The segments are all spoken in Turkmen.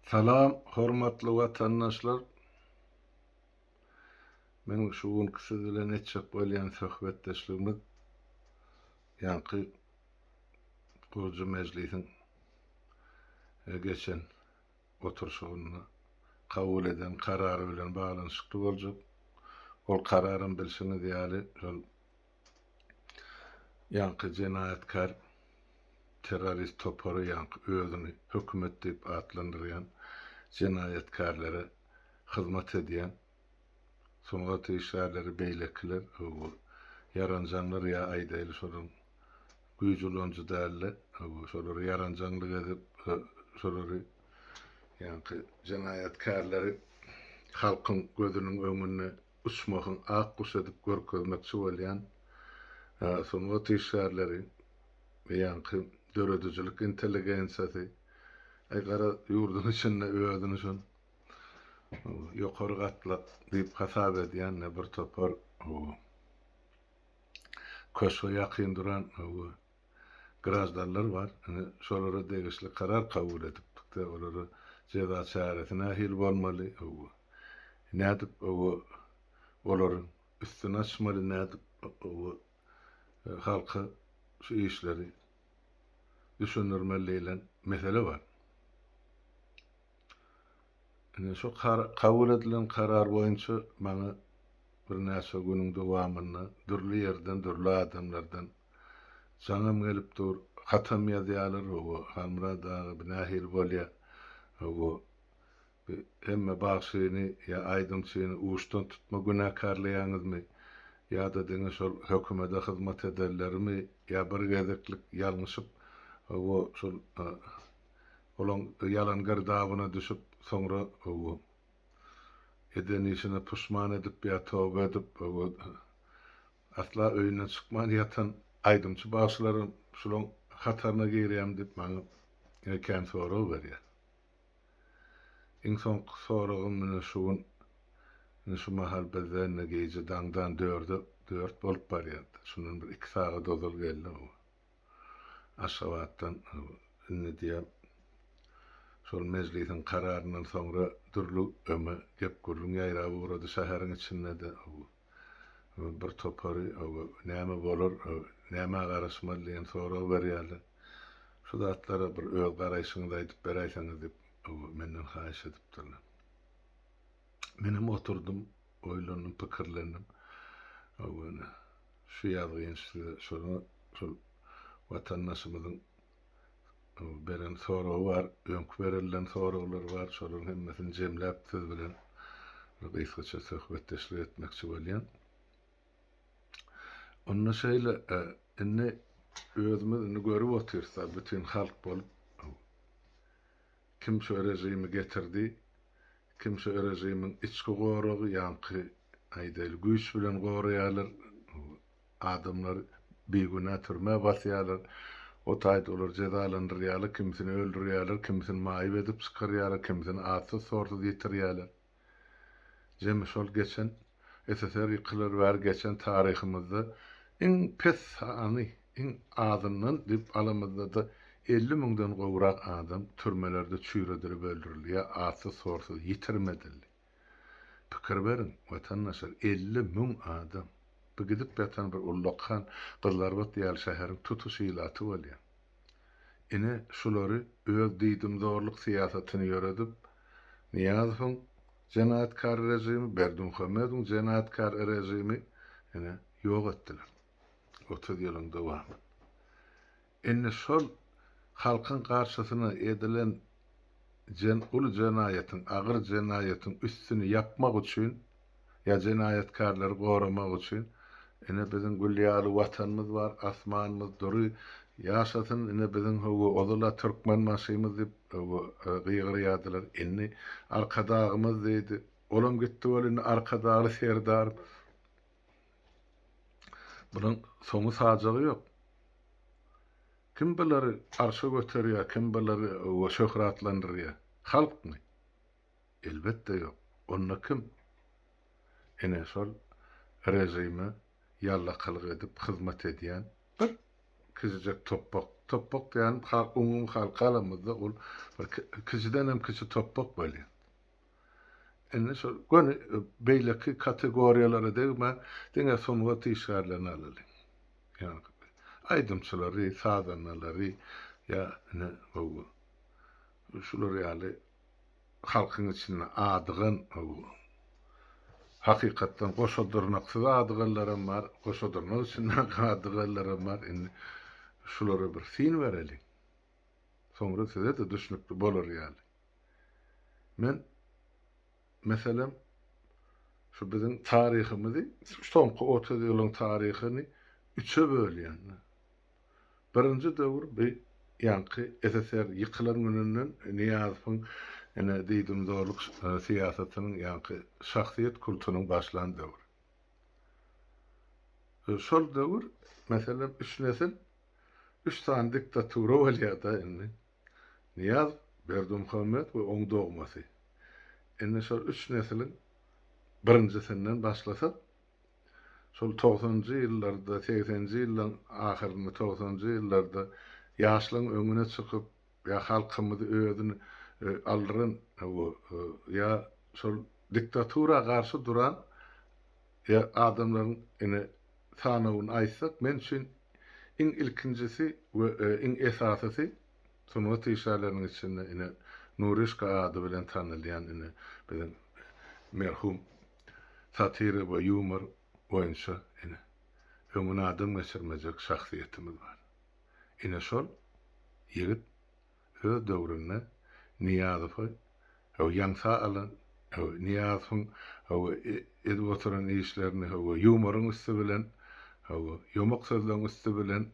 Salam hormatly watandaşlar! Meniň şu günki siz bilen etjek bolýan söhbetdeşligimiz ýaňky gurujy mejlisiň geçen oturyşygynda kabul eden karary bilen baglanyşykly boljak. Ol kararam bilşiňiz ýaly şol Ýaňky jenaýatkär terrorist topary ýaňky özüni hökümet diýip atlandyrýan jenaýatkärlere hyzmat edýän sungat işgärleri beýlekiler bu ýaranjaňlar ýa aýdaýly şolaryň güýji ulanyjy dälde bu şolary ýaranjaňlyk edip şolary ýaňky jenaýatkärleri halkyň gözüniň öňünde uçmagyň ak guşy edip görkezmekçi bolýan sungat işgärleri, beýanky döredijilik intelligensiýasy, aý gara ýurduň içinde özüni şol ýokary gatlak diýip hasap edýän bir topar köşge ýakyn duran graždanlar bar. Ine, şolara degişli karar kabul edipdik-de, olara jeza çäresi nähili bolmaly, öwü, nädip, öwü, olaryň üstüni açmaly, nädip, öwü, halka şu işleri düşündirmeli diýlen mesele bar. Ine, şo kabul edilen karar boýunça maňa birnäçe günüň dowamynda dürli ýerden, dürli adamlardan Jaňym gelip dur. Hatam ýazýarlar, hawa, Halmyrat aga, bi nähili bolýa? Hawa, bi hemme bagşyny ýa aýdymçyny uçdan tutma günäkärleýäňizmi? Ýa-da diňe şol hökümede hyzmat edenlerimi? Ýa bir gezeklik ýalňyşyp, hawa, şol olaň ýalan girdabyna düşüp, soňra, hawa, eden işine puşman edip ýa toba edip, hawa, Asla öýünden çykman ýatan aýdymçy bagşylaram şulaň hataryna girýärmi diýip maňa ine kän sorag berýär. Iň soňky soragym ine şu gün ine şu mahal bizde indi gije daňdan dörde dört bolup barýar. Şundan bir iki sagat ozal geldi bu Aşgabatdan indi diýýär şol mejlisiň kararyndan soňra dürli öňe gep gürrüň ýaýrap ugrady şäheriň içinde-de. bir topary näme bolar, nämä garaşmaly diýen sorag berýärler. Şu zatlara bir öz garaýşyňyzy aýdyp beräýseňiz diýip, menden haýyş edipdirler. Menem oturdym, oýlandym, pikirlendim. Şu ýazgy şol watandaşymyzyň beren soragy bar, öňki berilden soraglar bar, şolaryň hemmesini jemläp siz bilen bir gysgaça söhbetdeşlik etmekçi bolýan. Onda şeýle, e, indi özümiz indi görüp otyrys, bütin halk bolup kim şu režimi getirdi, kim şu režimiň içki goragy, ýaňky aýdaýly güýç bilen goraýarlar, Adamlar bigünä türmä basýarlar. O taýda olar jezalandyrýarlar, kimisini öldürýärler, kimisini maýyp edip çykarýarlar, kimisini atsyz-sorsuz ýitirýärler. Jemi şol geçen, SSR ýykylar bäri geçen taryhymyzda iň pes sany, iň azyndan diýip alamyzda-da elli müňden gowrak adam türmelerde çüýredilip öldürildi ýa atsyz-sorsuz ýitirim edildi. Pikir beriň, watandaşlar, elli müň adam! Bu gidip ýatan bir ullakan Gyzlarbat ýaly şäheriň tutuş ilaty bolýar. Ine, şulary öz diýdimzorluk syýasatyny ýöredip, Nyýazowyň jenaýatkar režimi, Berdimuhamedowyň jenaýatkar režimi, ine, ýok etdiler otuz ýylyň dowamynda. Indi şol halkyň garşysyna edilen jen uly jenaýatyň, agyr jenaýatyň üstüni ýapmak üçin, ýa jenaýatkarlary goramak üçin, ine biziň gül ýaly Watanymyz bar, asmanymyz dury, ýaşasyn ine biziň höwwa ozal-a Türkmenbaşymyz diýip, höwwa, gygyrýardylar. Indi Arkadagymyz diýdi. Olam gitdi weli indi Arkadagly Serdarymyz. Bunuň soňy sajagy ýok. Kim bulary arşa göterýär, kim bulary şöhratlandyrýar? Halkmy? Elbetde ýok. Onda kim? Ine şol režime ýallakalyk edip hyzmat edýän bir kiçijek topbak. Topbak diýýänim umumy hal galamyzda ol kiçidenem kiçi topbak bolýar. Indi şol göni beýleki kategoriýalara degmän, diňe sungat işgärlerini alalyň. Ýaňky aýdymçylary, sazandalary ýa ine gowy şular ýaly halkyň içinde adygan gowy hakykatdan goşa dyrnaksyz adyganlaram bar, goşa dyrnak içindäki adyganlaram bar. Indi şulara bir syn bereliň. Soňra size-de düşnükli bolar ýaly. Men, meselem, şu biziň taryhymyzy, soňky otuz ýylyň taryhyny üçe bölýän. Birinji döwür bi ýaňky SSR ýykylan gününden Nyýazowyň ene diýdimzorluk syýasatynyň ýaňky şahsyýet kultunyň başlan döwri. Şol döwür, meselem, üç nesil üç sany diktatura bolýar-da indi. Nyýaz Berdimuhamet we oň dogmasy. Indi şol üç nesiliň birinjisinden başlasak, şol togsanjy ýyllarda, segsenji ýyllaryň ahyrynda, togsanjy ýyllarda ýaşlaryň öňüne çykyp, ýa halkymyzy özüni aldyran, ýa şol diktatura garşy duran, Eger adamlaryň ine sanawyny aýtsak, men üçin iň ilkinjisi we iň esasysy sungat işgärleriniň içinde ine Nuryşka ady bilen tanalýan ine biziň merhum satira we ýumor boýunça ine öňüne adam geçirmejek şahsyýetimiz bar. Ine şol ýigit Öz döwründe Nyýazowy ýaňsa alan, Nyýazowyň edip oturan işlerini ýumoryň üsti bilen, ýomak sözleň üsti bilen,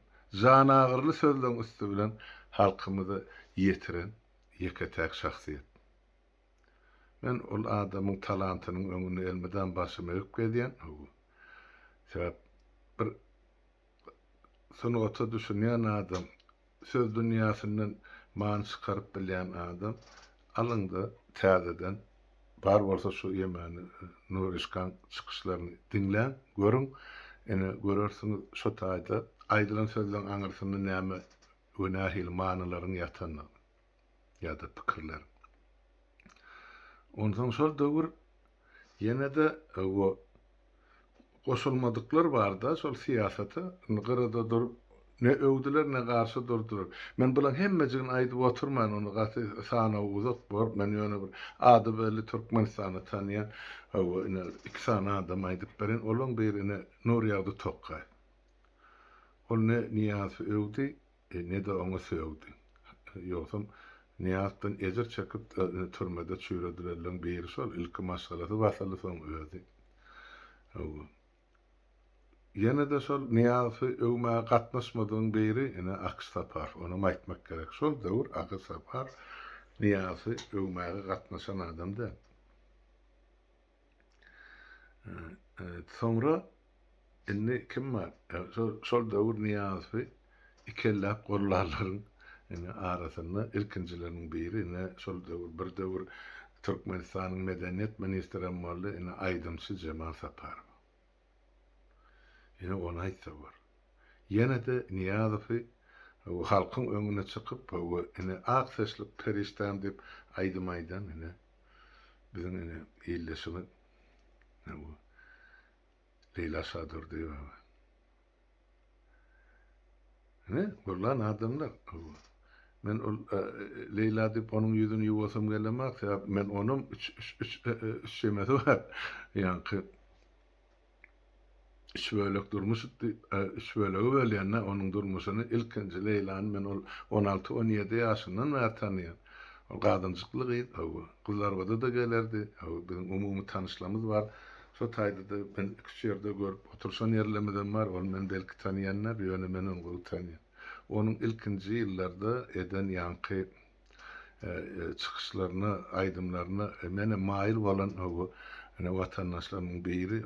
janagyryly sözleň üsti bilen halkymyza ýetiren ýeke-täk şahsyýet. Men ol adamyň talantynyň öňünde elmydam başym egip gezýän. Sebäp bir sungata düşünýän adam, söz dünýäsinden many çykaryp bilýän adam, alyňda täzeden bar bolsa şu Ýemany Nuryşkaň çykyşlaryny diňläň, görüň, ine görersiňiz şu taýda aýdylan sözleň aňyrsynda näme we nähili manylaryň ýatanyny. ýa-da pikirler. Onsoň şol döwür ýene-de o goşulmadyklar bar-da şol syýasata, indi gyrada durup ne öwdüler, ne garşy durdular. Men bularyň hemmejigini aýdyp oturmaýyn, onda gaty sanaw uzak bolar, men ýöne bir ady belli Türkmenistanda tanýan o ine iki sany adamy aýdyp bereýin, olaryň biri ine Nurýagdy Tokaýew. Ol ne Nyýazowy öwdi, ne-de oňa sögdi. Ýogsam, Nyýazdan ejir çekip türmede çüýredilenleriň biri şol, ilki maşgalasy basyldy, soň özi. Hawa. Ýene-de şol Nyýazy öwmäge gatnaşmadygyň biri, ine, Akyş Sapar. Onam aýtmak gerek, şol döwür Akyş Sapar Nyýazy öwmäge gatnaşan adam däl. Soňra indi kim bar? Şol döwür Nyýazowy ikelläp gollarlaryň arasynda ilkinjileriniň biri, ine, şol döwür, bir döwür Türkmenistanyň medeniýet ministrem boldy, ine, aýdymçy Jemal Saparow. Ine ony aýtsa bor. Ýene-de Nyýazowy halkyň öňüne çykyp hawa ine ak saçlyk perişdäm diýip aýdym aýdan ine biziň ine ildeşimiz ine bu Leýla Şadurdyýewa. Hä, bollan adamlar. Men ol Leýla diýip onuň ýüzüni ýuwasym gelemok, sebäp men onam üç üç üç çemesi bar. Ýaňky üç bölek durmuş itdi, üç bölege bölýän-dä onuň durmuşyny. Ilkinji Leýlany men ol on alty, on ýedi ýaşyndan bäri tanaýan. Ol gadynjykly gyz, hawa, Gyzlarabada-da gelerdi. Hawa, biziň umumy tanyşlygymyz bar. Şo taýda-da men iki-üç ýerde görüp oturyşan ýerlerimizem bar. Ol meni belki tanaýandyr, ýöne men ony gowy tanaýan. Onuň ilkinji ýyllarda eden ýaňky çykyşlaryna, aýdymlaryna menem maýyl bolan watandaşlarymyň biri.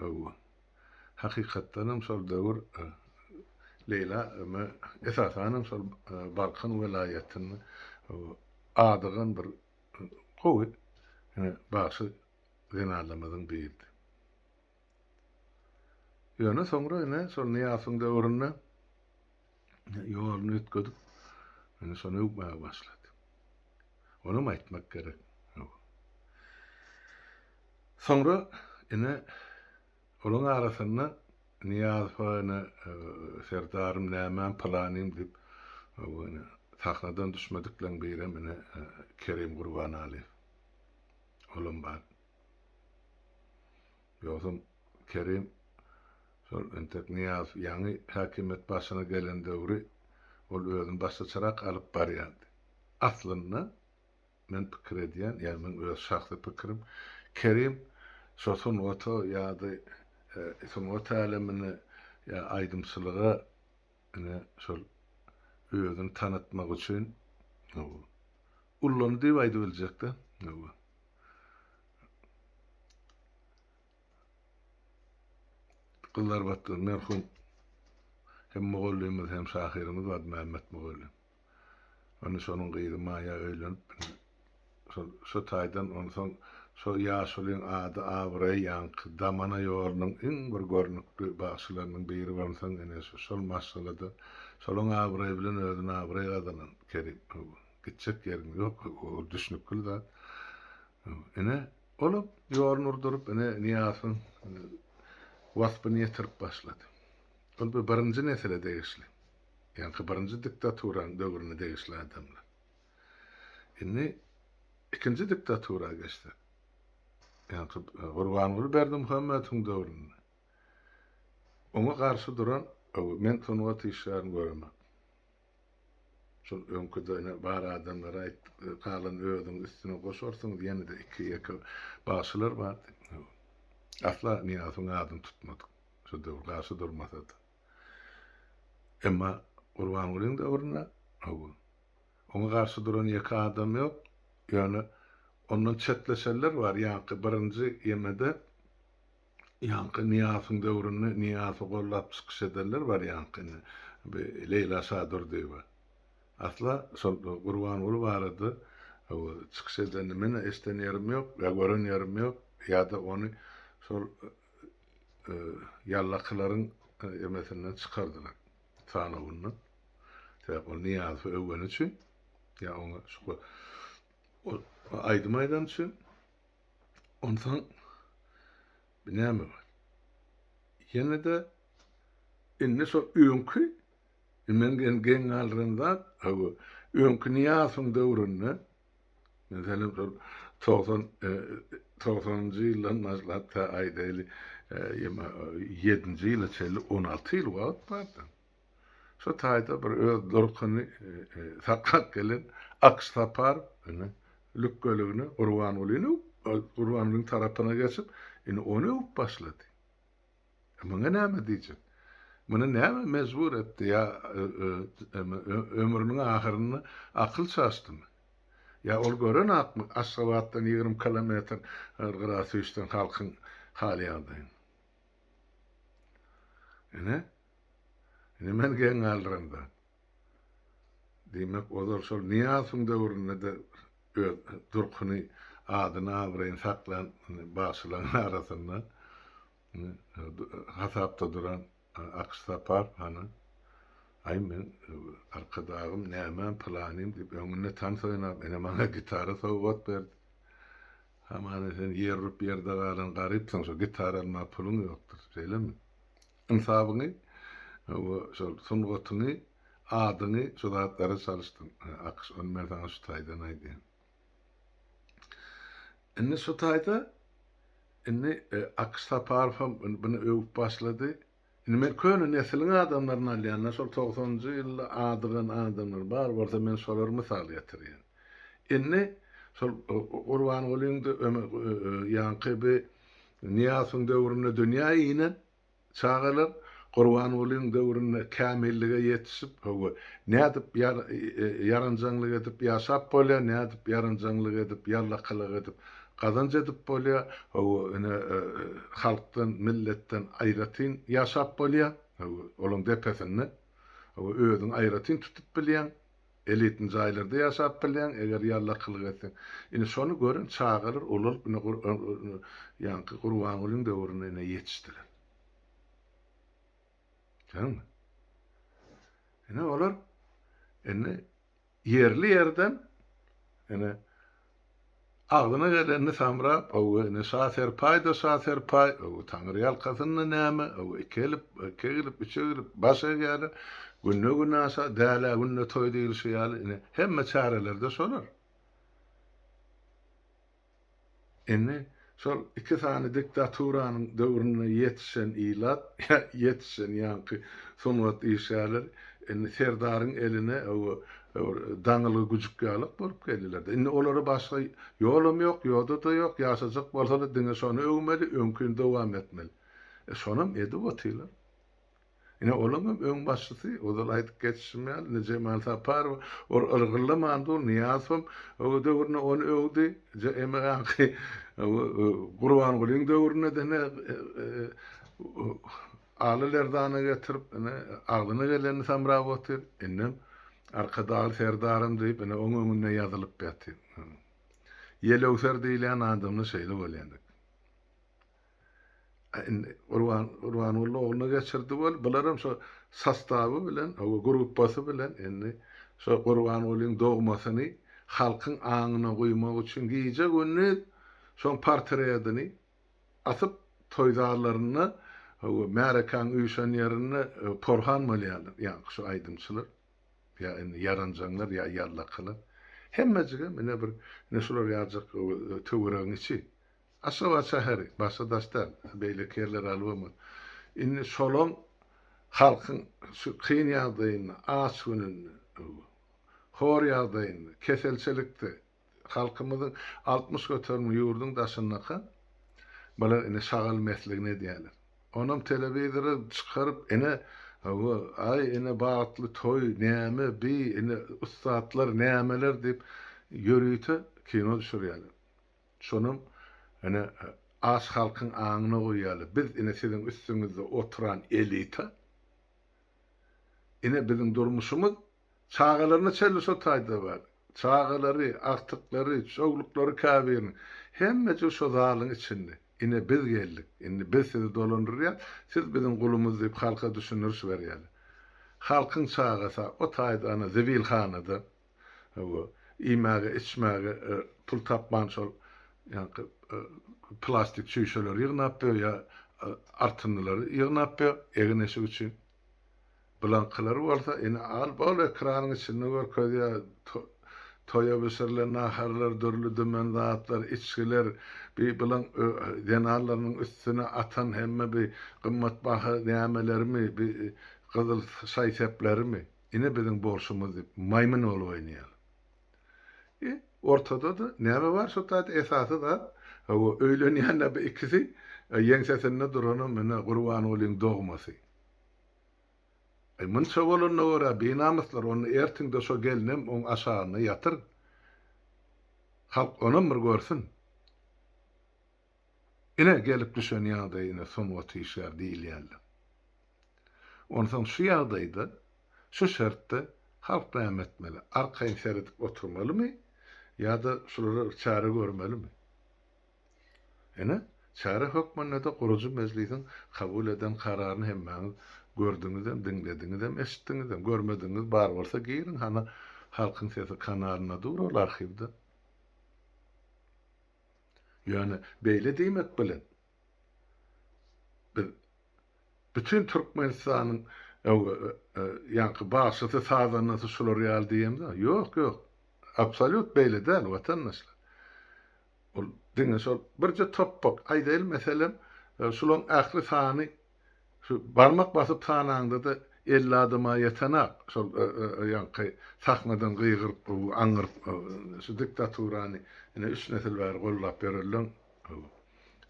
Hakykatdanam şol döwür Leýla eme esasanam şol Balkan welaýatynda adygan bir gowy bagşy zenanamyzyň diýildi. Ýöne soňra ine şol Nyýasyň döwründe ýoluny üýtgedip, indi şony öwmäge başlady. Onam aýtmak gerek. Soňra ine olaň arasynda Nyýazowa ine serdarym nämäm pylanym diýip sahnadan düşmedikleň birem ine Kerim Gurbanalyýew. Olam bar. Ýogsam Kerim şol entek Nyýazow ýaňy häkimiýet başyna gelen döwri ol özüni başgaçarak alyp barýardy. Aslynda men pikir edýän, ýagny meň öz şahsy pikirim, Kerim şo sungata ýa-da sungat älemine ýa aýdymçylyga Ine şol özüni tanatmak üçin ullandy diýip aýdyp biljekde. Gyzlarbatda merhum hem mugallymymyz hem şahyrymyz Mämmet mugallym. Indi şonuň gyzy Maýa öýlenip, indi şol şu taýdan onsoň şo ýaşulyň ady, abraýy ýaňky damana ýolunyň iň bir görnükli bagşylarynyň biri bolsaň ine şu şol maşgalada şolaň abraýy bilen özüne abraý gazanan Kerim. Gitjek ýeriň ýok, ol düşnükli zat. Ine, olam ýoluny urduryp, ine Nyýazowyň waspyny ýetirip başlady. Ol bir birinji nesile degişli. Ýaňky birinji diktaturanyň döwrüne degişli adamlar. Indi ikinji diktatura geçsek. Ýaňky Gurbanguly Berdimuhamedowyň döwründe. Oňa garşy duran men sungat işgärini göremok. Şol öňküde ine bar adamlary aýtdyk, galan özüň üstüne goşarsyňyz, ýene-de iki-ýeke bagşylar bardy. Asla Nyýazowyň adyny tutmadyk. Şo döwür garşy durmasa-da. Emma Gurbangulyň döwründe howwa, oňa garşy duran ýeke adam ýok, ýöne ondan çetleşenler bar, ýaňky birinji ýemede ýaňky Nyýasyň döwründe Nyýazy gollap çykyş edenler bar ýaňky indi bi Leýla Şadurdyýewa asla şol Gurbanguly barada howwa çykyş edenini men-ä eşiden ýerim ýok ýa gören ýerim ýok ýa-da ony şol ýallakylaryň emesinden çykardylar sanawyndan. Sebäp ol Nyýazowy öwgeni üçin, ýa oňa şu aýdym aýdan üçin. Onsoň bir näme bar? Ýene-de indi şol öňki men geň galdyran zat, öňki Nyýazowyň döwründe Men senem şol togsan togsanynjy ýyldan başlap tä aýdaýly ýeme ýedinji ýyla çenli on alty ýyl wagt bardy. Şo taýda bir öz durkuny saklap gelen Akş Sapar indi lükgeligine Gurbangulyny Gurbangulyň tarapyna geçip, indi ony öwüp başlady. E muňa näme diýjek? Muny näme mejbur etdi ýa ömrüniň ahyrynda akyl çaşdymy? Ýa ol görenakmy Aşgabatdan ýigrimi kilometr Gyrasüýşden halkyň hal-ýagdaýyny? Ine, ine men geň galdyran zat. Diýmek, ozal şol Nyýazowyň döwründe-de öz durkuny, adyny-abraýyny saklan bagşylaryň arasynda hasapda duran Akyş Saparow hany, Aý, meň Arkadagym, nämem, pylanym diýip, öňünde tans oýnap, ine, maňa gitara sowgat berdi. Hamana, sen ýer urup ýerde galan garypsyň, şo gitara almaga puluň ýokdur. Şeýlemi? Ynsabyňy we şol sungatyňy, adyňy şu zatlara çalyşdyň. Akyş, ony men saňa şu taýdan aýdýan. Indi şu taýda indi Akyş Saparowam muny öwüp başlady. Indi men köne nesiliň adamlaryny alýan-da, şol togsanynjy ýylda adygan adamlar bar bolsa, men şolary mysal getirýän. Indi şol Gurbangulyň-da, Ömer, ýaňky bi Nyýasyň döwründe dünýä inen çagalar Gurbangulyň döwründe kämillige ýetişip, hawa, nädip ýaranjaňlyk edip ýaşap bolýar, nädip ýaranjaňlyk edip, ýallakylyk edip gazanç edip bolýar, hawa, ine, halkdan, milletden aýratyn ýaşap bolýar, hawa, olaň depesinde, hawa, özüňi aýratyn tutup bilýäň. Elitni jaýlarda ýaşap bilýäň eger ýallakylyk etseň. Ine şony gören çagalar ulalyp ine ýaňky Gurbangulyň döwründe ine ýetişdiler. Görüňmi? Ine olar indi ýerli ýerden ine Agzyna gelenini samrap, öw, ine, şaserpaý-da şaserpaý, öw, taňryýalkasynda näme, öw, iki elip, iki egilip, üç egilip, baş egýärler. Günde günaşa, dälä günde toý diýlişi ýaly, ine, hemme çäreler-de şolar. Indi Şol iki sany diktaturanyň döwründe ýetişen ilat, ýa ýetişen ýaňky sungat işgärleri indi serdaryň eline owo bir daňylgy güjük ýalak bolup geldiler-de. Indi olara başga ýolam ýok, ýoda-da ýok, ýaşajak bolsalar diňe şony öwmeli, öňkini dowam etmeli. E şonam edip otylar. Ine, olaň hem öň başçysy, ozal aýdyp geçişim ýaly, indi Jemal Saparow ol yrgyldaman dur, Nyýazowam öw döwründe ony öwdi, je emegaňky Gurbangulyň döwründe dene Aly Lerdana getirip, ine, agzyna gelenini samrap otyr, indem Arkadagly Serdarym diýip, ine, oň öňünde ýazylyp ýatyr. Ýelöwser diýilýän adamda şeýle bolýan ekeni. Indi Gurban Gurbanguly ogluna geçirdi bol. Bularam şo sostawy bilen, oba gruppasy bilen indi şo Gurbangulyň dogmasyny halkyň aňyna guýmak üçin gije gündiz şoň portredini asyp toý zallarynda oba märekäň üýşen ýerinde porhan bolýarlar. Ýaňky şo aýdymçylar ýa indi ýaranjaňlar ýa ýallakalar. Hemmejigem ine bir ine şular ýaljak töweregiň içi. Aşgabat şäheri, başga Daşdan, beýleki ýerler albomy. Indi şolaň halkyň şu kyn ýagdaýynda, aç gününde, hor ýagdaýynda, keselçilikde halkymyzyň altmyş göterimli ýurduň daşyndaka bular ine şagal mesligini edýäler. Onam telewizora çykaryp ine hawa aý ine bagtly toý näme bi ine ussatlar nämeler diýip ýörite kino düşürýäler. Şonam, ine, aç halkyň aňyna goýaly, biz, ine, siziň üstüňizde oturan elita, ine, biziň durmuşymyz çagalaryna çenli şo taýda bar. Çagalary, agtyklary, çowluklary käbiriniň, hemmejik şo zalyň içinde. Ine, biz geldik, indi biz sizi dolandyrýas, siz biziň gulumyz diýip halka düşündiriş berýäler. Halkyň çagasy-a o taýda ana zibilhanada, Hawa, iýmäge, içmäge pul tapman şol ýaňky plastik çüýşeleri ýygnap ýör ýa artyndylary ýygnap ýör egin-eşik üçin. Bulaňkylar bolsa ine al bol ekranyň içinde görkezýär toýa bişirilen naharlar, dürli-dümen zatlar, içgiler, bi bulaň zenanlarynyň üstüne atan hemme bi gymmatbaha nämelerimi, bi gyzyl şaý-seplerimi. ine biziň bolşumyz diýip maýmyn bolup oýnaýarlar. E, ortada-da näme bar şu taýda esasy zat, hawa, öýlenýän-ä bu ikisi, e, ýeňsesinde duranam ine Gurbangulyň dogmasy. E, munça bolanyna görä, binamyslar, onda ertiň-de şo gelnem oň aşagynda ýatyr. Halk onam bir görsün. Ine, gelip düşen ýagdaýyna sungat işgär diýilýärler. Onsoň şu ýagdaýda, şu şertde halk näme etmeli? Arkaýyn seredip oturmalymy ýa-da şulara bir çäre görmelimi? Ine, çäre hökmünde-de gurujy mejlisiň kabul eden kararyny hemmäňiz gördüňizem, diňlediňizem, eşitdiňizem. Görmedigiňiz bar bolsa giriň, hany Halkyň sesi kanalyna dur ol arhiwde. Ýöne beýle diýmek bilen, biz bütin Türkmenistanyň ýaňky bagşysy, sazandasy şular ýaly diýemizmi? Ýok, ýok. Absolýut beýle däl, watandaşlar. Ol diňe şol birje topbak, aýdaýly, meselem, şularyň ähli sany Şu barmak basyp sanaňda-da elli adama ýetenak, şol ýaňky sahnadan gygyryp, aňňyryp şu diktaturany ine üç nesil bäri gollap ýörenleň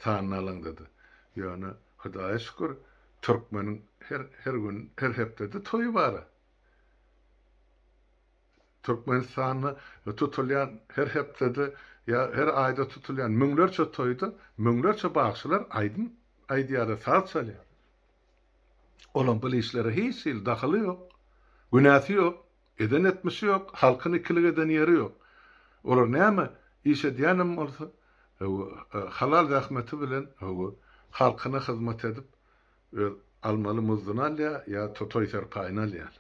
sanyny alaňda-da. Ýöne Hudaýa şükür, türkmeniň her gün, her hepdede toýy bar-a. Türkmenistanda tutulýan her hepdede ýa her aýda tutulýan müňlerçe toýda müňlerçe bagşylar aýdym aýdýar-da, saz çalýar. Olaň bul işlere hiç hili dahyly ýok, günäsi ýok, eden etmişi ýok, halkyny ikilik eden ýeri ýok. Olar näme iş edýänem bolsa, hawa, halal zähmeti bilen, hawa, halkyna hyzmat edip, öz almaly muzduny alýar ýa-da toý-serpaýyny alýar.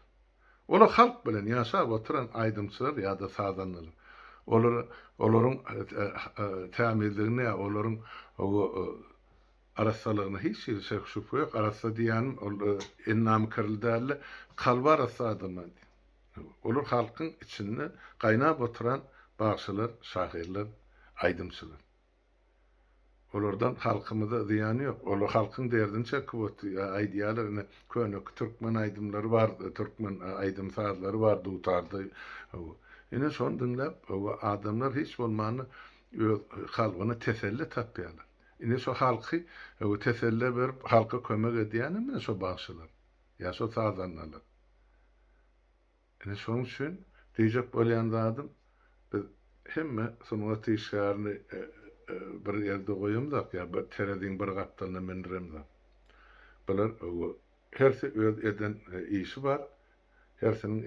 Olar halk bilen ýaşap oturan aýdymçylar ýa-da sazandalar. Olar olaryň tämizligine ýa olaryň arassalygyna hiç hili şek-şübhe ýok. Arassa diýýänim ol ennamykerli däl-de, kalby arassa adamlar diýen. Olar halkyň içinde gaýnap oturan bagşylar, şahyrlar, aýdymçylar. Olardan halkymyza zyýany ýok. Olar halkyň derdini çekip otyr. Aýdýarlar ine köneki türkmen aýdymlary bar, türkmen aýdym sazlary bar dutarda. Hawa. Ine şony diňläp hawa adamlar hiç bolmanda öz kalbyna teselli tapýarlar. Ine şu halky hawa teselle berip halka kömek edýänem ine şu bagşylar. Ýa şu sazandalar. Ine şonuň üçin diýjek bolýan zadym, biz hemme sungat işgärini bir ýerde goýamzok ýa bir tereziň bir gapdalyna mündüremzok. Bular hersi öz eden işi bar, hersiniň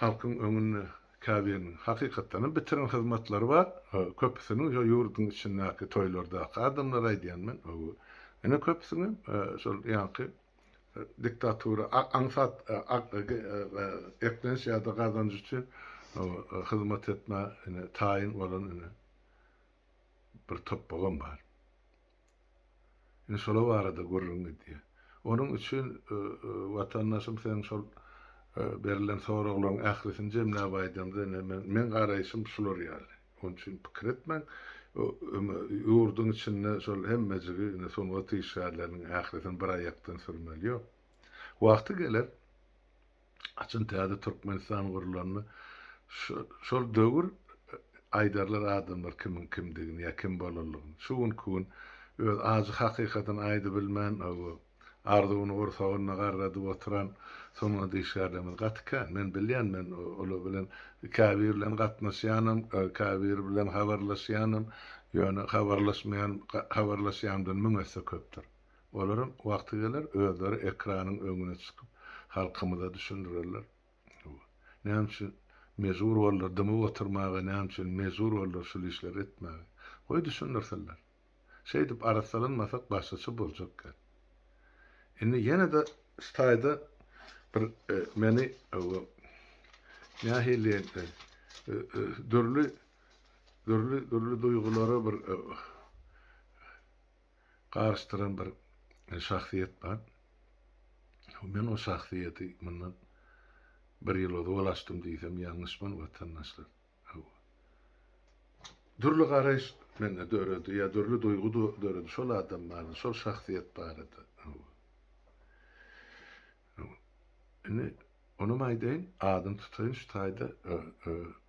halkyň öňünde käbiriniň hakykatdan hem bitiren hyzmatlary bar, köpüsiniň şo ýurduň içindäki toýlardaky adamlar aýdýan men, ine köpüsiniň şol ýaňky diktatura aňsat eklenç ýa-da gazanç üçin hyzmat etmä ine taýyn bolan ine bir topbagam bar. Ine şolar barada gürrüň gidýär. Onuň üçin watandaşym seň şol berlen soraglaryň ählisini jemläp aýdamda ine men garaýşym şular ýaly. Şonuň üçin pikir etmäň. Ýurduň içinde şol hemmejigi indi sungat işgärleriniň ählisini bir aýakdan sürmeli ýok. Wagty geler, haçan täze Türkmenistan gurulanda şol döwür aýdarlar adamlar kimiň kimdigini ýa kim bolanlygyny. Şu günki gün öz ajy hakykatyny aýdybilmän Arzuwyny gursagynda garradyp oturan sungat işgärlerimiz gaty kän. Men bilýän, men olar bilen käbiri bilen gatnaşýanym, käbiri bilen habarlaşýanym, ýöne habarlaşmaýan habarlaşýanymdan müň esse köpdür. Olaram wagty geler, özleri ekranyň öňüne çykyp, halkymyza düşündirerler. Näme üçin mejbur boldular dymyp oturmaga, näme üçin mejbur boldular şul işleri etmäge? Goý düşündirsinler. Şeýdip arassalanmasak başgaça boljak gep. Indi ýene-de şu taýda bir meni nähiliýen dürli dürli dürli duýgulara bir garyşdyran bir şahsyýet bar. Men o şahsyýeti mundan bir ýyl ozal açdym diýsem ýalňyşman watandaşlar. Hawa. Dürli garaýyş mende döredi, ýa dürli duýgy döredi şol adam barada, şol şahsyýet barada. Hawa. Hawa. Indi onam aýdaýyn, adyny tutaýyn şu taýda,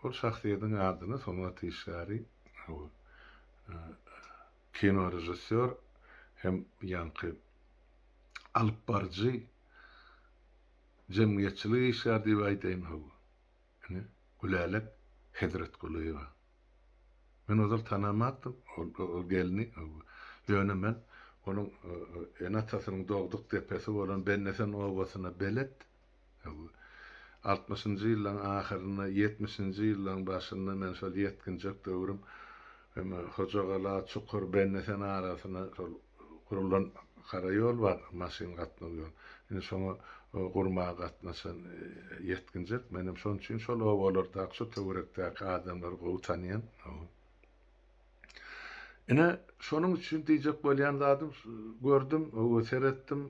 ol şahsyýediň adyny sungat işgäri, hawa, kino režissýor hem ýaňky alypbaryjy, jemgyýetçilik işgäri diýip aýdaýyn, hawa. Indi Gülälek Hezretgulyýewa. Men ozal tanamatdym ol gelni. Ýöne men onuň ene-atasynyň dogduk depesi bolan Bennesen obasyna belet. Altmyşynjy ýyllaryň ahyrynda, ýetmişinji ýyllaryň başynda men şol ýetginjek döwrüm Hojagala, Çukur, Bennesen arasyna şol Gurlan gara ýol bar, maşyn gatnaw ýol. Indi şoňa gurmaga gatnaşan ýetginjek. Menem şonuň üçin şol obalardaky, şu töwerekdäki adamlary gowy tanýan. Ine, şonuň üçin diýjek bolýan zadym, gördüm, seretdim,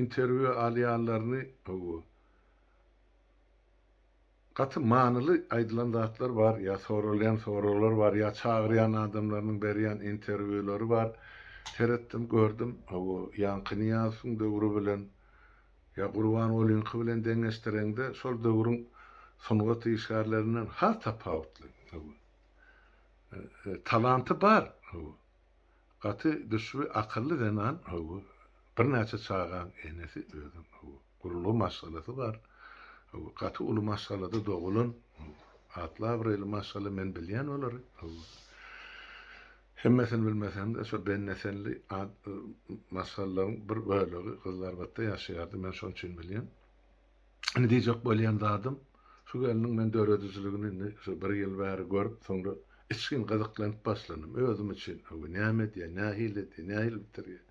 interwýu alýanlaryny. Gaty manyly aýdylan zatlar bar, ýa soralýan soraglar bar, ýa çagyrýan adamlarynyň berýän interwýulary bar. Seretdim, gördüm, hawa, ýaňky Nyýazowyň döwri bilen, ýa Gurbangulynyňky bilen deňeşdireňde, şol döwrüň sungat işgärlerinden has tapawutly. Hawa. Talanty bar. Hawa. Gaty düşbi akylly zenan hawa birnäçe çagaň enesi özüm hawa gurulgy maşgalasy bar hawa gaty uly maşgalada dogulan hawa atly abraýly maşgala men bilýän olary hawa hemmesini bilmesemde şo bennesenli maşgalalaryň bir bölegi gyzlarbatda ýaşaýardy men şonuçin bilýän. Indi diýjek bolýan zadym, şu gelniň men döredijiligini indi şu bir ýyl bäri görüp, soňra içgin gyzyklanyp başlandym özüm üçin. Hawa, näme edýär, nähili edýär, nähili bitirýär?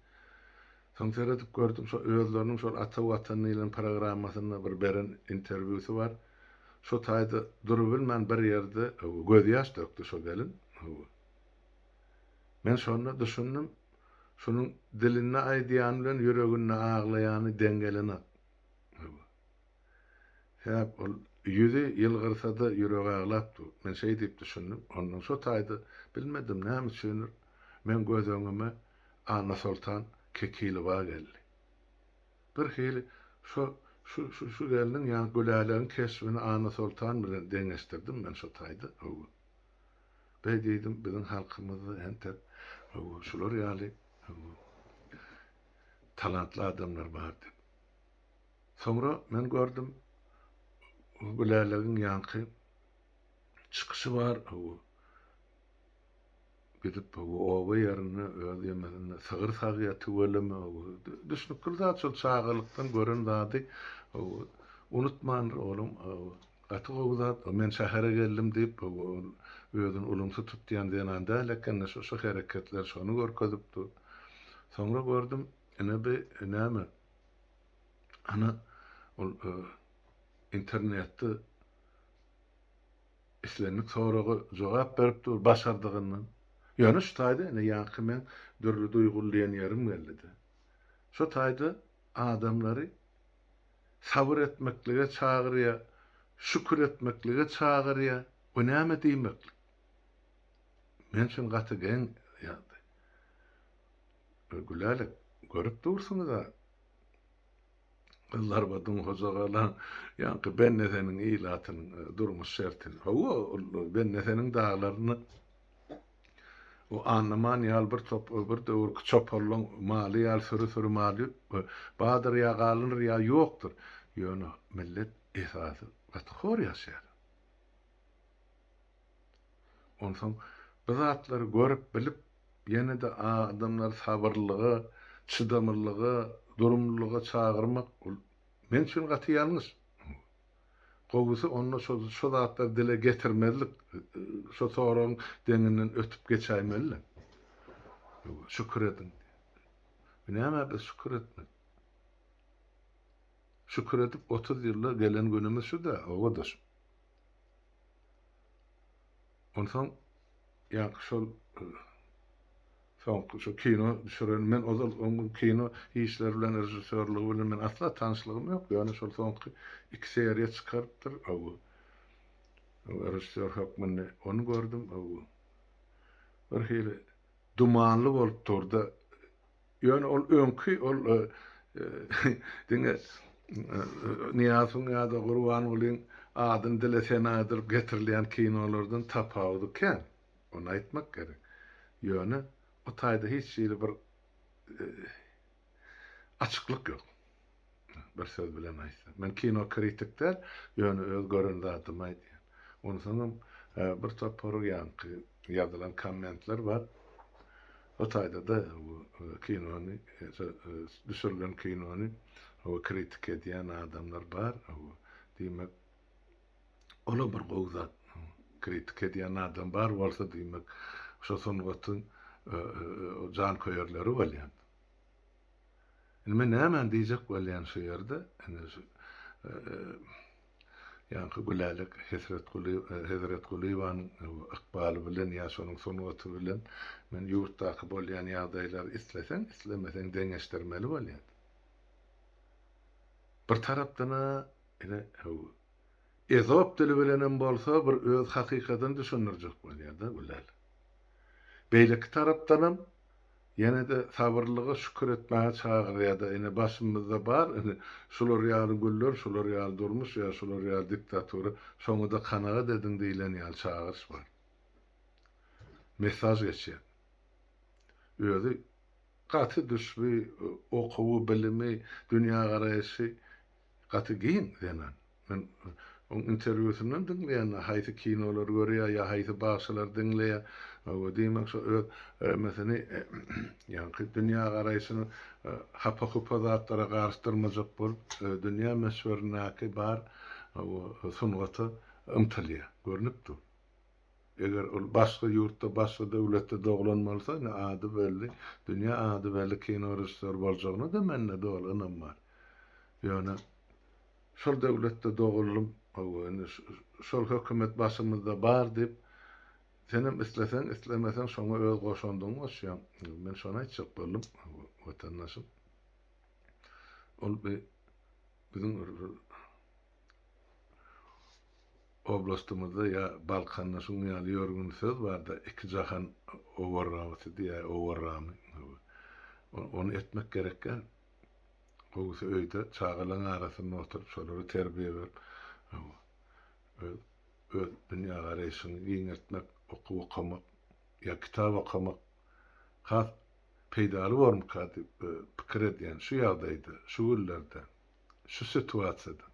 Soň seredip gördüm, şo özleriniň şol Ata Watan diýlen programmasynda bir beren interwýusy bar. Şo taýda durubilmän bir ýerde, hawa, gözýaş dökdi şo gelin, hawa. Men şonda düşündim, şunuň dilinde aýdýany bilen ýüreginde aglaýany deň gelenok. Sebäp ol ýüzi ýylgyrsada ýüregi aglap dur. Men şeý diýip düşündim. Ondan şo taýda bilmedim näme üçindir meň göz öňüme Annasoltan Kekilowa geldi. Bir hili şo şu gelniň ýa Gülälegiň keşbini Annasoltan bilen deňeşdirdim men şo taýda. Beý diýdim biziň halkymyzda entek şular ýaly talantly adamlar bar diýip. Soňra men gördüm, Gülälegiň ýaňky çykyşy bar, gidip oba ýerinde öz ýemesinde sygyr sagýar, tüweleme, düşnükli zat şol çagalykdan gören zady unutmandyr olam. Gaty gowy zat bu. Men şähere geldim diýip ol özüni ulumsy tutýan zenan däl ekeni şu şu hereketler şony görkezip dur. Soňra gördüm ine bi näme ana ol internetde islendik soraga jogap berip dur başardygyndan. Ýöne şu taýda ine ýaňky meň dürli duýgulýan ýerim geldide. Şu taýda Adamlary sabyr etmeklige çagyrýar, şükür etmeklige çagyrýar we näme diýmeklik? Men üçin gaty geň ýagdaý. Gülälek, görüp dursuňyz-a, gyzlar we Dunhojagalan ýaňky Benneseniň ilatynyň durmuş şertini. Hawa, ol Benneseniň daglaryny O annaman ýal bir top bir döwürki çoparlaň maly ýal süri-süri mal ýüp we badyr ýa galyndyr ýa ýokdur. Ýöne millet esasy gaty hor ýaşaýar. Onsoň bu zatlary görüp bilip ýene-de adamlary sabyrlylyga, çydamlylyga, durumlylyga çagyrmak ol men üçin gaty ýalňyş. Gowusy onda şo şo zatlary dile getirmezlik şo soragyň deňinden ötüp geçäýmeli-le. Şükür ediň diýip. Nämä biz şükür etmeli? Şükür edip otuz ýylda gelen günümiz şu-da obadaşym. Onsoň ýaňky şol Soňky şu kino düşüren men ozal oň kino işleri bilen režissýorlygy bilen men asla tanyşlygym ýok ýöne şol soňky iki seriýa çykarypdyr ow režissýor hökmünde ony gördüm ow bir hili dumanly bolup durda ýöne ol öňki ol diňe Nyýazowyň ýa-da Gurbangulyň adyny dile senadyryp getirilýän kinolardan tapawudy kän. Ony aýtmak gerek. Ýöne o taýda hiç hili bir açyklyk ýok. Bir söz bilen aýtsak. Men kino kritik däl, ýöne öz gören zadymy aýdýan. Onsoňam bir topar ýaňky ýazylan kommentler bar. O taýda-da bu kinony, düşürilen kinony kritik edýän adamlar bar. Diýmek, Ola bir gowy zat kritika edýän adam bar bolsa diýmek şo sungatyň janköýerleri bolýar. Indi men nämäni diýjek bolýan şu ýerde indi şu ýaňky Gülälek Hesretguly Hezretgulyýewanyň ykbaly bilen ýa şonuň sungaty bilen men ýurtdaky bolýan ýagdaýlary isleseň islemeseň deňeşdirmeli bolýar. Bir tarapdan-a Ine, hüw. Ezop dili bilenem bolsa bir öz hakykatyny düşündirjek bolýar-da bu lal. Beýleki tarapdanam, ýene-de sabyrlylyga şükür etmäge çagyrýar-da, ine, başymyzda bar, ine, şular ýaly güller, şular ýaly durmuş ýa şular ýaly diktatura, şoňa-da kanagat ediň diýlen ýaly çagyryş bar. Mesaž geçýär. Özi gaty düşbi, okuwy, bilimi, dünýägaraýşy Gaty giň zenan. Men oň interwýusyndan diňleýän, haýsy kinolary görýär ýa haýsy bagşylary diňleýär. Hawa, diýmek şo öz mesini, ýaňky dünýägaraýşyny hapa-hupa zatlara garyşdyrmajak bolup, dünýä möçberindäki bar sungata ymtylýar. Görnüp dur. Eger ol başga ýurtda, başga döwletde doglan bolsa, indi ady belli, dünýä ady belli kino režissýory boljagyna-da mende doly ynam bar. Ýöne şol döwletde doguldym, hawa, indi şol hökümet başymyzda bar diýip, senem isleseň, islemeseň şoňa öz goşandyňy goşýaň. Men şony aýtjak boldum, hawa, watandaşym. Ol bir biziň Oblastymyzda ýa Balkanda şunuň ýaly ýörgün söz bar-da, iki jahan owarramasy diýä, owarramy. Ony etmek gerekgän. Gowusy öýde çagalaň arasynda oturyp, şolara terbiýe berip, hawa, öz öz dünýägaraýşyňy giňeltmek, okuw okamak ýa kitap okamak has peýdaly bormyka diýip pikir edýän şu ýagdaýda, şu günlerde, şu situasiýada.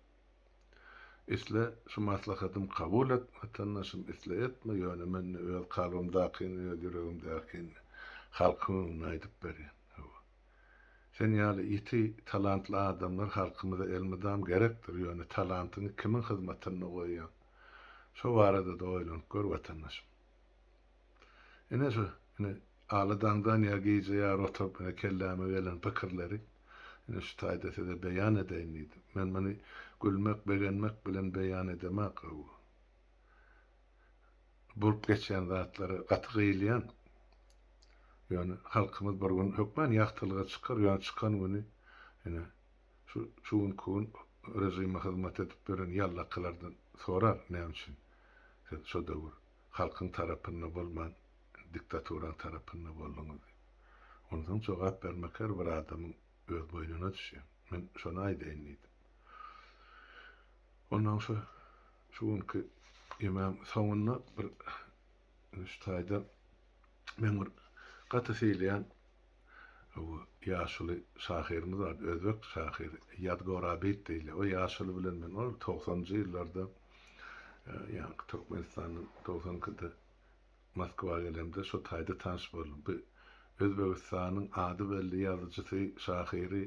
Isle şu maslahatymy kabul et, watandaşym, isle etme, ýöne men ne öz kalbymdakyny, ne öz ýüregimdäkini halkyň öňünde aýdyp berýän. Hawa. Sen ýaly ýiti talantly adamlar halkymyza elmydam gerekdir, ýöne talantyňy kimiň hyzmatynda goýýaň? Şo barada-da oýlanyp gör, watandaşym. Ine şu, ine, aly daňdan ýa gije ýary oturyp, ine, kelläme gelen pikirleri, ine, şu taýda size beýan edeýin diýdim. Men muny gülmek, begenmek bilen beýan edemok, gowy. Bolup geçýän zatlara gaty gyýylýan. Ýöne halkymyz bir gün hökman ýagtylyga çykar, ýöne çykan güni, ine, Şu günki gün režime hyzmat edip ýören ýallakylardan sorar, näme üçin siz şo döwür halkyň tarapynda bolman, diktaturaň tarapynda bolduňyz diýip. Onsoň jogap bermek her bir adamyň öz boýnuna düşýär. Men şony aýdaýyn diýdim. Onsoň şu şu günki ýemegiň soňunda bir şu taýdan Men bir gaty seýleýän bu ýaşuly şahyrymyz bar, özbek şahyry Ýadgor Abid diýilýär. O ýaşuly bilen men ol togsanjy ýyllarda ýaňky Türkmenistandan togsan ikide Moskwa gelemde şo taýda tanyş boldum. Bu Özbegistanyň ady belli ýazyjysy, şahyry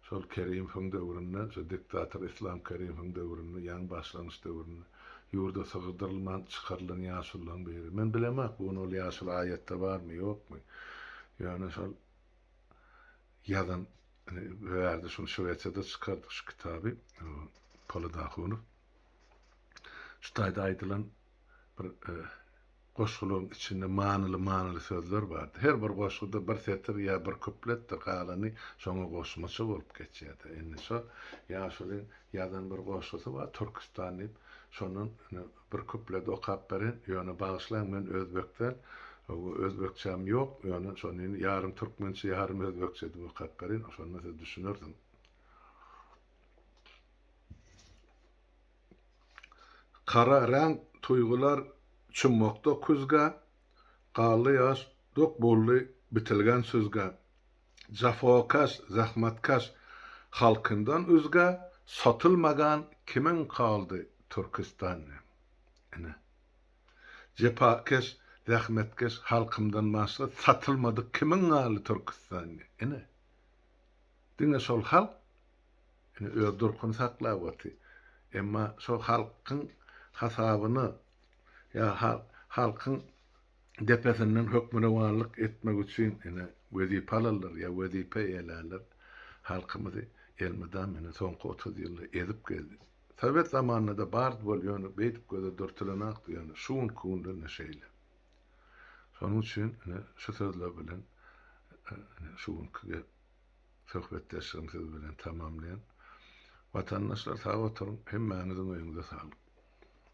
Şol Kerimowyň döwründe, şo diktator Islam Kerimowyň döwründe, ýaňy başlangyç döwründe ýurda sygyrdyrylman çykarylan ýaşulularyň biri. Men bilemok, bu gün ol ýaşuly aýatda barmy, ýokmy. Ýöne şol ýazan, indi bu ýerde şuny Şwesiýada çykardyk şu kitaby, Polat Ahunow. Şu taýda aýdylan, bir goşgulyň içinde manyly-manyly sözler bardy. Her bir goşguda bir setir ýa bir kupletdir, galany şoňa goşmaça bolup geçýärdi. Indi şo ýaşulyň ýazan bir goşgusy bar, Türküstan diýip. Şondan ine bir kuplet okap bereýin. Ýöne bagyşlaň, men özbek däl, özbekçäm ýok, ýöne şony indi ýarym türkmençe, ýarym özbekçe edip okap bereýin, şonda siz düşünersiňiz. Gara reňk tuýgular çummakda küzgä, Galdy ýaş, dok boldy bitilgen süzgä. Jafokaş, zähmetkeş halkyndan üzgä, Satylmagan kimin galdy Türküstan. Ine, jepakeş, zähmetkeş halkymdan başga satylmadyk kimin galdy Türküstan. Ine. Diňe şol halk ine öz durkuny saklap otyr. Emma şol halkyň hasabyna ýa halkyň depesinden hökmürowanlyk etmek üçin ine wezipe alanlar ýa wezipe eýelänler halkymyzy elmydam ine soňky otuz ýylda ezip gezdi. Sowet zamanynada bardy bol ýöne beýdip göze dürtülenakdy ýöne şu günki günde ine şeýle. Şonuň üçin ine şu sözler bilen ine şu günki gep. Söhbetdeşligimi siz bilen tamamlaýan. Watandaşlar sag oturyň, hemmäňiziň öýüňize saglyk.